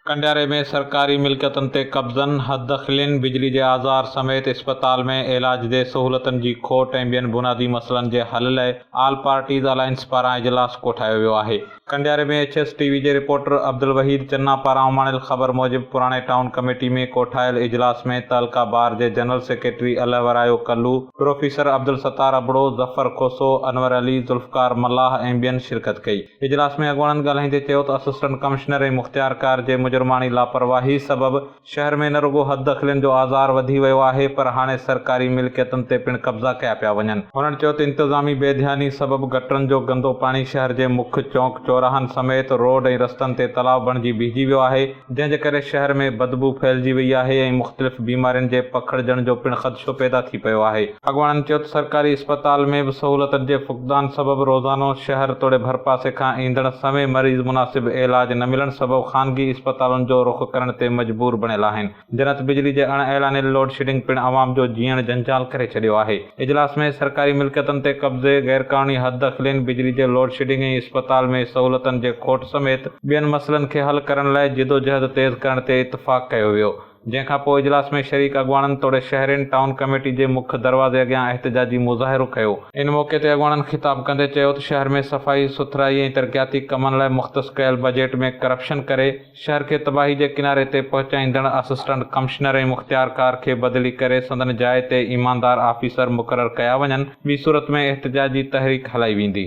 ڪنڊياري ۾ سرڪاري ملڪيتن تي قبضن، حددخلين، بجلي جي آزار سميت اسپتال ۾ علاج جي سهولتن جي کوٽ ۽ ٻين بنادي مسئلن جي حل لئه آل پارٽيز الائنس پاران اجلاس ڪوٺايو ويو آهي. ڪنڊياري ۾ ايڇ ايس ٽي وي جي رپورٽر عبدالوحيد چنا پاران اماڻيل خبر موجب پراڻي ٽائون ڪميٽي ۾ ڪوٺايل اجلاس ۾ تعلقه بار جي general secretary Allahorayo Kalu, professor Abdul Sattar Abro, Zafar Khoso, Anwar Ali, Zulfiqar Mallah ۽ ٻين شرڪت ڪئي. اجلاس ۾ اڳواڻن ڳالهائيندي چيو ته اسسٽنٽ ڪمشنر ۽ مختيارڪار جي مجرماڻي لاپرواهي سبب شهر ۾ نه رڳو حد دخلين جو آزار وڌي ويو آهي پر هاڻي سرڪاري ملڪيتن تي پڻ قبضا ڪيا پيا وڃن. هنن چيو ته انتظامي بي ڌياني سبب گٽرن جو گندو پاڻي شهر جي مک چونڪ چوراهن سميت روڊ ۽ رستن تي تلاء بڻجي بيهجي ويو آهي جنهن جي ڪري شهر ۾ بدبو ڦهلجي وئي آهي ۽ مختلف بيمارين جي پکڙجڻ جو پڻ خدشو پيدا ٿي پيو آهي. اڳواڻن چيو ته سرڪاري اسپتال ۾ به سهولتن جي فقدان سبب روزانو شهر توڙي ڀرپاسي کان ايندڙ سوين مريض مناسب علاج نه ملڻ سبب خانگي اسپتالن جو رخ ڪرڻ تي مجبور بڻيل آهن. جنت بجلي جي اڻ اعلانيل لوڊشيڊنگ پڻ عوام جو جيئڻ جنجال ڪري ڇڏيو آهي. اجلاس ۾ سرڪاري ملڪيتن تي قبضي، غيرقانوني حد دخلين، بجلي جي لوڊشيڊنگ ۽ اسپتال ۾ سهولتن جي کوٽ سميت ٻين مسئلن کي حل ڪرڻ لاء جدوجهد تيز ڪرڻ تي اتفاق ڪيو ويو. جنهن کان پوء اجلاس ۾ شريڪ اڳواڻن توڙي شهرين ٽائون ڪميٽي جي مک دروازي اڳيان احتجاجي مظاهرو ڪيو. ان موقعي تي اڳواڻن خطاب ڪندي چيو ته شهر ۾ صفائي سٿرائي ۽ ترقياتي ڪمن لاء مختص ڪيل بجيٽ ۾ ڪرپشن ڪري شهر کي تباهي جي ڪناري تي پهچائيندڙ اسسٽنٽ ڪمشنر ۽ مختيارڪار کي بدلي ڪري سندن جاء تي ايماندار آفيسر مقرر ڪيا وڃن ٻي صورت ۾ احتجاجي تحريڪ هلائي ويندي.